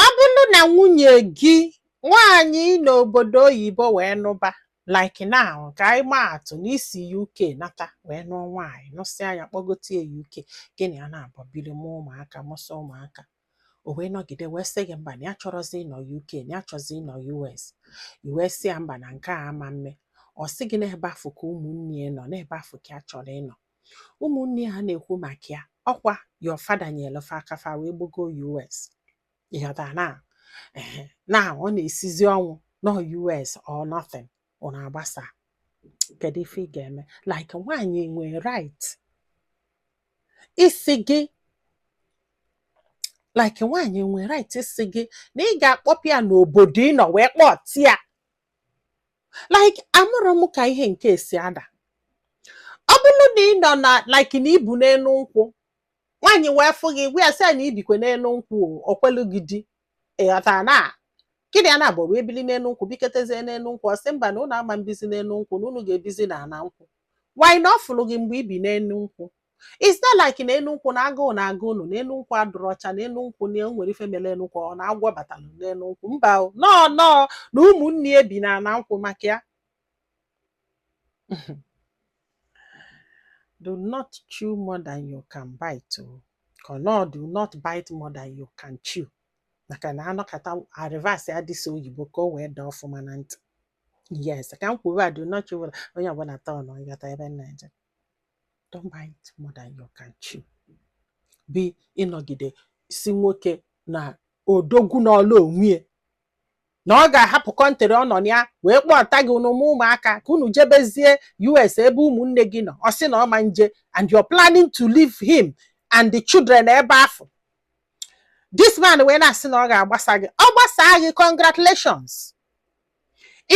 Ọ bụrụ na nwunye gị nwaanyị ị nọ obodo oyibo wee nụba like now ka anyị maa atụ na i si UK nata wee nụọ nwaanyị nụsịa ya kpọgote ya UK gị na ya naabọ biri mụọ ụmụaka mụsịa ụmụaka o wee nọgide wee sị gị mba na ya achọrọzi ịnọ UK na ya chọzi ịnọ US i wee sị ya mba na nke a ama mme ọ sị gị n'ebe afụ ka ụmụnne ya nọ n'ebe afụ ka ya chọrọ ịnọ ụmụnne ya na-ekwu maka ya ọkwa your father nyeelụ fa aka fa wee gbago US ị ghọta na ehe, na ọ na-esizi ọnwụ nọ US or nothing ọ na-agbasa kedu ife ị ga-eme like nwaanyị enwe right ịsị gị like nwaanyị enwe right ịsị gị na ị ga-akpọpụ ya n'obodo ị nọ wee kpọtị ya like amarọ m ka ihe nke a si ada ọ bụrụ na ị nọ na like na i bi n'enu nkwụ nwaanyị wee fụ gị ị gwa ya sị ya na i bikwe n'enu nkwụ o, o kwelu gị di ị ghọta na gị na ya naabọ wee bili n'enu nkwụ biketezie n'enu nkwụ ọ sị mba na ụnụ ama mbizi n'enu nkwụ na ụnụ ga-ebizi n'ana nkwụ while na ọ fụrụ gị mgbe i bi n'enu nkwụ it's not like na enu nkwụ na agụụ na-agụ unu na enu nkwụ adịrọ ọcha na enu nkwụ na o nwere ife mere enu nkwụ or na agwọ batalụ n'enu nkwụ mba o nọọ nọọ na ụmụnne ya bi na ana nkwụ maka ya do not chew more than you can bite okay no do not bite more than you can chew maka na a nọkata a reverse ya this oyibo ka o wee daa ọfụma na ntị yes ka m kwuru a do not chew onye ọbụla taa ọnụ ị ghọta ebe m na-eje don't bite more than you can chew bụ ị nọgide sị nwoke na odogwu nọọlụ onwe ya na ọ ga-ahapụ country ọ nọ na ya wee kpọta gị unu amụọ ụmụaka ka unu jebezie US ebe ụmụnne gị nọ ọ sị na ọ ma nje and you're planning to leave him and the children n'ebe afụ this man wee na-asị na ọ ga-agbasa gị ọ gbasaa gị congratulations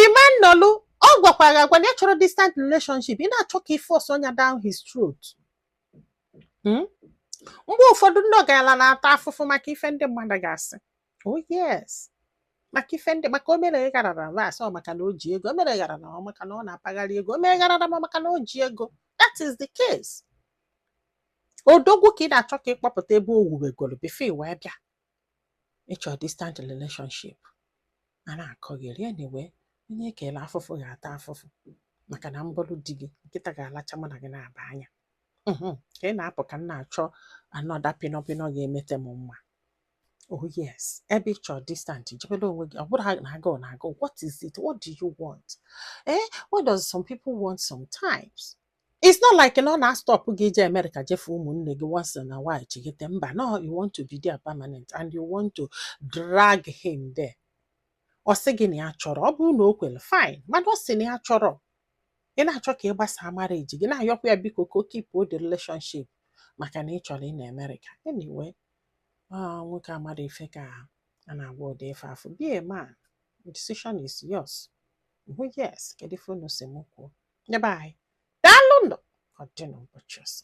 Imanolu ọ gwakwara gị agwa na ya achọrọ distant relationship ị na-achọ ka i force ya down his throat Hmm? mgbe ụfọdụ ndị ọgaranya na-ata afụfụ maka ife ndị mmadụ ga-asị oh yes maka ife ndị maka o mere gharara was ọ maka na o ji ego o mere gharara ọ maka na ọ na-apagharị ego o mere gharara ma maka na o ji ego that is the case odogwu ka ị na-achọ ka ị kpọpụta ebe o wuwegoro before i wee bịa ị chọ distant relationship a na-akọgheri anyway onye e kelu afụfụ ga-ata afụfụ maka na m bụlụ di gị nkịta ga-alacha mụ na gị naabọ anya mhm. ka ị na-apụ ka m na-achọ another pinọpinọ ga-emete m mma oh yes ebe ị chọ distant jebere onwe gị ọ bụrọ na agụụ na-agụ what is it what do you want eh what does some people want sometimes It's not like na ọ na-astọpụ gị ije Amerịka je fụ ụmụnne gị once in a while chighata mba no you want to be there permanent and you want to drag him there. Ọ sị gị na ya achọrọ ọ bụrụ na o kwere fine mana ọ sị na ya achọrọ ị na-achọ ka ị gbasaa marriage gị na-ayọkwa ya biko ka o kipuo the relationship maka na ị chọrọ ịna Amerịka anyway ah, nwoke amarọ ife ka a na-agwa ụdị ife afụ be a man decision is yours. Mhụ yes, kedu ife unu sị m kwuo? Ndị be anyị. Daalụ nụ. Ọ dị n'ụbọchị ọzọ.